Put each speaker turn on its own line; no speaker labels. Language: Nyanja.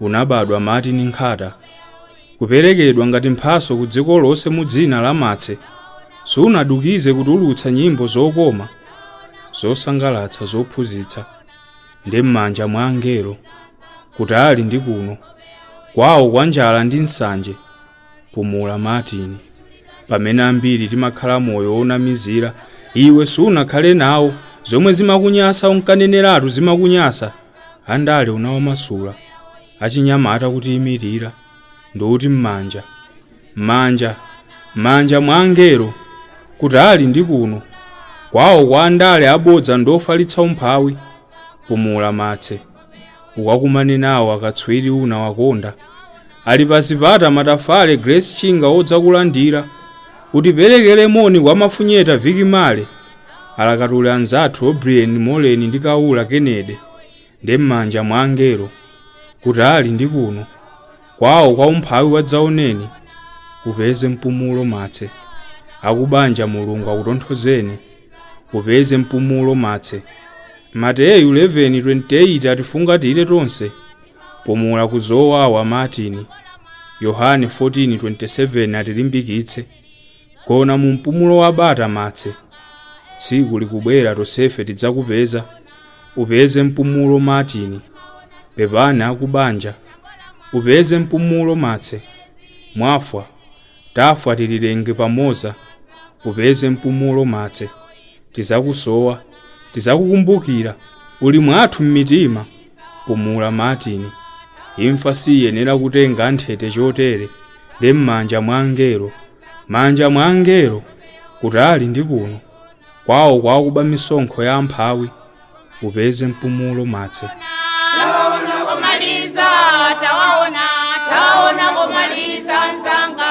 unabadwa Martin Nkhata, kuperekedwa ngati mphatso ku dziko lonse mu dzina la Martse, sunadukize kutulutsa nyimbo zokoma, zosangalatsa, zophunzitsa, ndi m'manja mwa angelo, kutali ndi kuno, kwawo kwa njala ndi nsanje. pumula martin pamene ambiri timakhala moyo wonamizira iwe sunakhale nawo zomwe zimakunyasa unkaneneratu zimakunyasa andale unawamasula achinyamata kutiimirira ndi uti m'manja m'manja m'manja mwa angelo kutali ndi kuno kwawo kwa andale abodza ndi ofalitsa umphawi pumula Martse ukakumane nawo akatswiri unawakonda ali pa zipata Matafale Grace Chinga odzakulandira utiperekere moni kwa Mafunyeta Vic Marley alakatuli anzathu O'Brien Moleni ndi Kaula Kennedy ndi m'manja mwa angelo kutali ndi kuno Kwawo kwa umphawi wadzaoneni Upeze mpumulo Martse Akubanja mulungu akutonthozeni Upeze mpumulo Martse Mateyu 11:28 atifungatire tonse Pumula ku zowawa Martin Yohane 14:27 atilimbikitse Gona mu mpumulo wa bata, Martse. Tsiku likubwera tosefe tidzakupeza. Upeze mpumulo, Martin. Pepani akubanja. Upeze mpumulo, Martse. Mwafwa. Tafwa tililenge pamoza. Upeze mpumulo, Martse. Tizakusowa. Tizakukumbukira. Uli mwathu m'mitima. pumula Martin imfa siyenera kutenga nthete chotere ndi m'manja mwa angelo manja mwa angelo kutali ndi kuno kwawo kwa akuba misonkho ya amphawi upeze mpumulo Martse taona komaliza tawaona taona komaliza nzanga